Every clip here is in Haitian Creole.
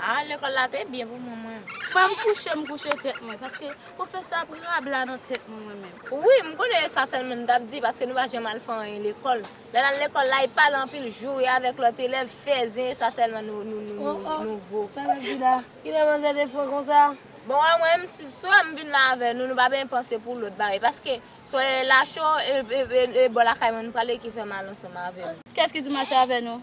Ah lekol la te byen pou mwen mwen. Banm kouche m kouche tèt mwen paske pwofesè ap rabla nan tèt mwen mwen menm. Wi m konnen e sa sèlman m tap di paske nou pa janm al fè anyen lekòl lè nal lekòl la e pale anpil joure avèk lòt elèv fè zen e sa sèlman nou vo. Sa nap di la? Kilè manzè te fou konsa? Bon wè mwen menm si swa m vin la avè nou nou pa benyen panse pou lòt bagay paske swa e lacho e bò lakay mwen nou pale ki fè mal ansanm avè nou. Kiyès ki tou mache avè nou?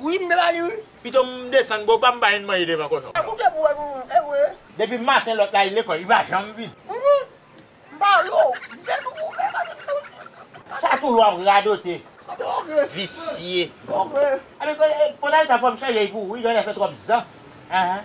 Ui m la ui pito m desann boo pa m bay yn manje devan kochon. An koupe pou wè nou ewe. Depi maten lòt la al lekòl li pa janm vin. Humm m pa wè w vre nou pou fè maten sa w di. Sa toujou ap radote. Anben ok. Visye. Ok. Anben potaje sa fòm chanje l pou ou wi grandè fè twòp zan anh.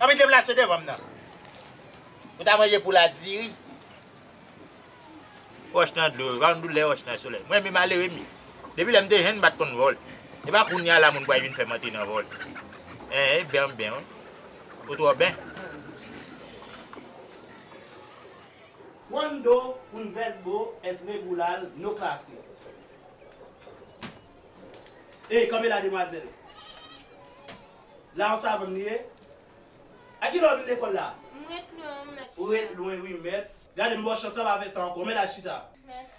Anvi kem la se devanm nan. Ou ta manje poul a diri. Wòch nan dlo, epa nou doulè wòch nan solèy. Mwen renmen malere m. Depi lèm te jenn m pat konn vòl. Epa kounya la moun pwal vin fèm antre nan vòl. Eeh e ben ben wi. Ou twò ben. Cuando un verbo es regular no clase. Ey kanpe la demwazèl. La ou savann li ye? A ki lè ou vin lekòl la? M ret lwen wi mèt. Ou ret lwen wi mèt. Gade m ba w chans la pa fè sa ankò. Men la chita. Mèsi.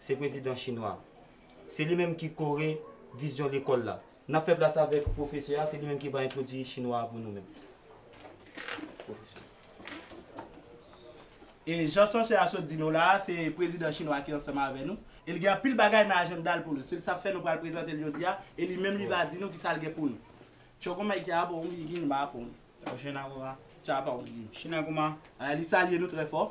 Se prezidan chinwa. Se li menm ki kore vizyon lekòl la. N ap fè plas avèk pwofesè a, se li menm ki va entwodui chinwa a pou nou menm. Pwofesè. E jan sòsyè a sot di nou la a, se prezidan chinwa ki ansanm avè nou. E li gen anpil bagay nan ajanda l pou nou. Se sa k fè nou pral prezante l jodi a, e li menm li va di nou ki sa l gen pou nou. China kuma. Li salye nou trè fò.